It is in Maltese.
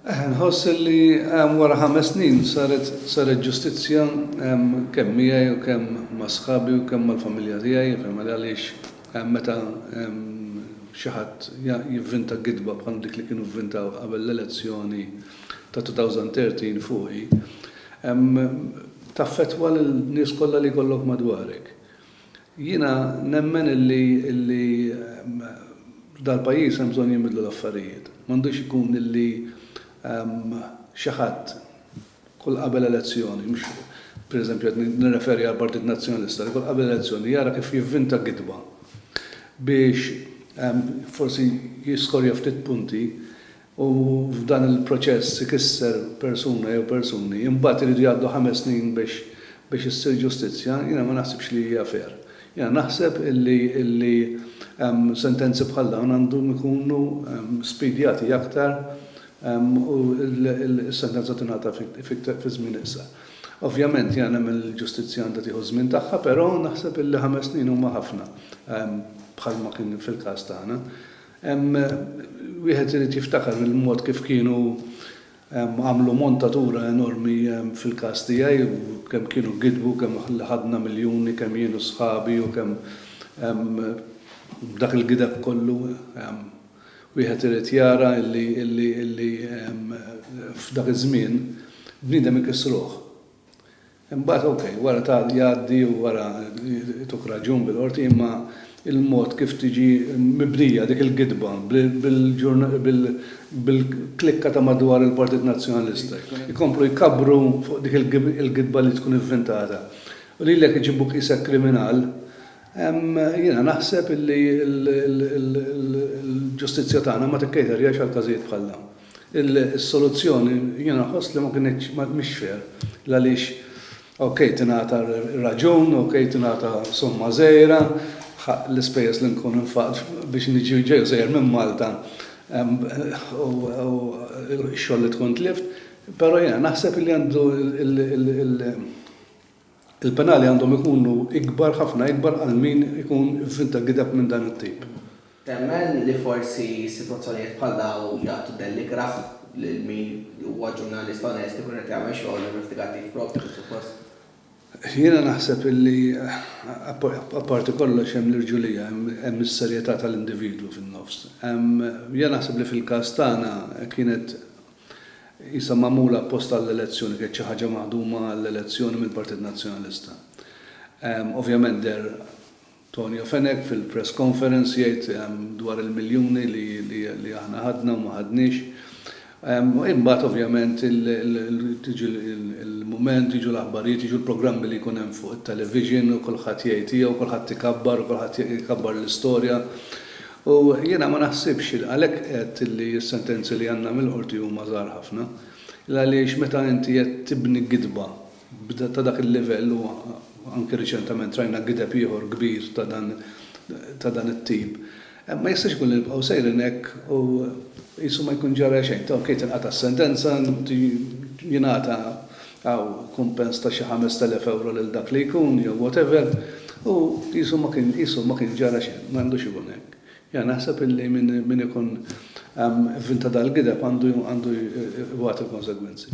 Nħoss li wara ħames snin saret saret ġustizzja kemm miegħi u kemm ma' sħabi u kemm mal-familja tiegħi, għaliex meta xi ħadd jivvinta gidba bħal dik li kienu vvintaw qabel l-elezzjoni ta' 2013 fuqi, taffettwa lin-nies kollha li jkollok madwarek. Jiena nemmen illi illi f'dal-pajjiż hemm bżonn jinbidlu l-affarijiet. M'għandux ikun illi xi ħadd kull qabel elezzjoni, mhux pereżempju qed nirreferi għall-Partit Nazzjonalista, li kull qabel elezzjoni jara kif jivvinta gidba biex forsi jiskorja ftit punti, u f'dan il-proċess ikisser persuna jew persuni, imbagħad iridu jgħaddu ħames snin biex biex issir ġustizzja, jiena ma naħsibx li hija fair. Jiena naħseb illi illi sentenzi bħal dawn għandhom ikunu spidjati aktar u s-sentenza tingħata fi żmien iqsar. Ovvjament jiena nemmen li l-ġustizzja għandha tieħu ż-żmien tagħha, però naħseb illi ħames snin huma ħafna bħalma kien fil-każ tagħna. Hemm wieħed irid jiftakar il-mod kif kienu għamlu montatura enormi fil-każ tiegħi u kemm kienu gidbu, kemm ħadna miljuni, kemm jien u sħabi u kemm b'dak il-gideb kollu wieħed irid jara illi illi illi f'dak iż-żmien bniedem ikissruh. Imbagħad okej, wara tagħlaq jgħaddi u wara jtuk raġun bil-Qorti imma l-mod kif tiġi mibnija dik il-gidba bil-klikka ta' madwar il-Partit Nazzjonalista, ikomplu jkabbru fuq dik il-gidba li tkun ivvintata u lilek iġibuk qisek kriminal, jiena naħseb illi l-ġustizzja tagħna ma tikcaterjax għal każijiet bħal dawn. Is-soluzzjoni jiena nħoss li ma kinitx, mhix fair, l-għaliex ok tingħata r-raġun, ok tingħata somma żgħira, l-ispejjeż li nkun infaqt biex niġi ġej u sejjer minn Malta u x-xogħol li tkun tlift, però jiena naħseb li għandu l-, Il-penali għandhom ikunu ikbar, ħafna ikbar għal min ikun f'żinta gideb minn dan it-tip. Temmen li forsi sitwazzjonijiet bħal dawn jagħtu dell ikrah lil min huwa ġurnalist onest ikun qed jagħmel xogħol investigattiv proprju kif suppost? Jiena naħseb li apparti kollox hemm l-irġulija, hemm is-serjetà tal-individwu fin-nofs. Jiena naħseb li fil-każ tagħna kienet Qisha magħmula apposta għall-elezzjoni, kienet xi ħaġa maħduma għall-elezzjoni mill-Partit Nazzjonalista. Ovvjament deher Tonio Fenech fil-press conference jgħid dwar il-miljuni li aħna ħadna u ma ħadniex. Imbagħad ovvjament tiġi l-mument, jiġu l-aħbarijiet, jiġu l-programmi li jkun hemm fuq it-television u kulħadd jgħid tiegħu, kulħadd ikabbar u kulħadd ikabbar l-istorja. U jiena ma naħsibx li għalhekk għedt li s-sentenzi li għandna mill-Qorti huma żgħar ħafna. L-għaliex meta inti qed tibni gidba ta' dak il-livell u anki riċentament rajna gideb ieħor kbir ta' dan ta' dan it-tip, ma jistax ikun li nibqgħu sejrin hekk u qisu ma jkun ġara xejn. Okej tinqata' s-sentenza, jingħata Taw kumpens ta' xi ħamest elef ewro lil dak li jkun jew whatever u qisu ma kien qisu ma kien ġara xejn. Ma għandux ikun hekk. Jiena naħseb illi min min ikun vvinta dal-gideb għandu għandu jwati l-konsegwenzi.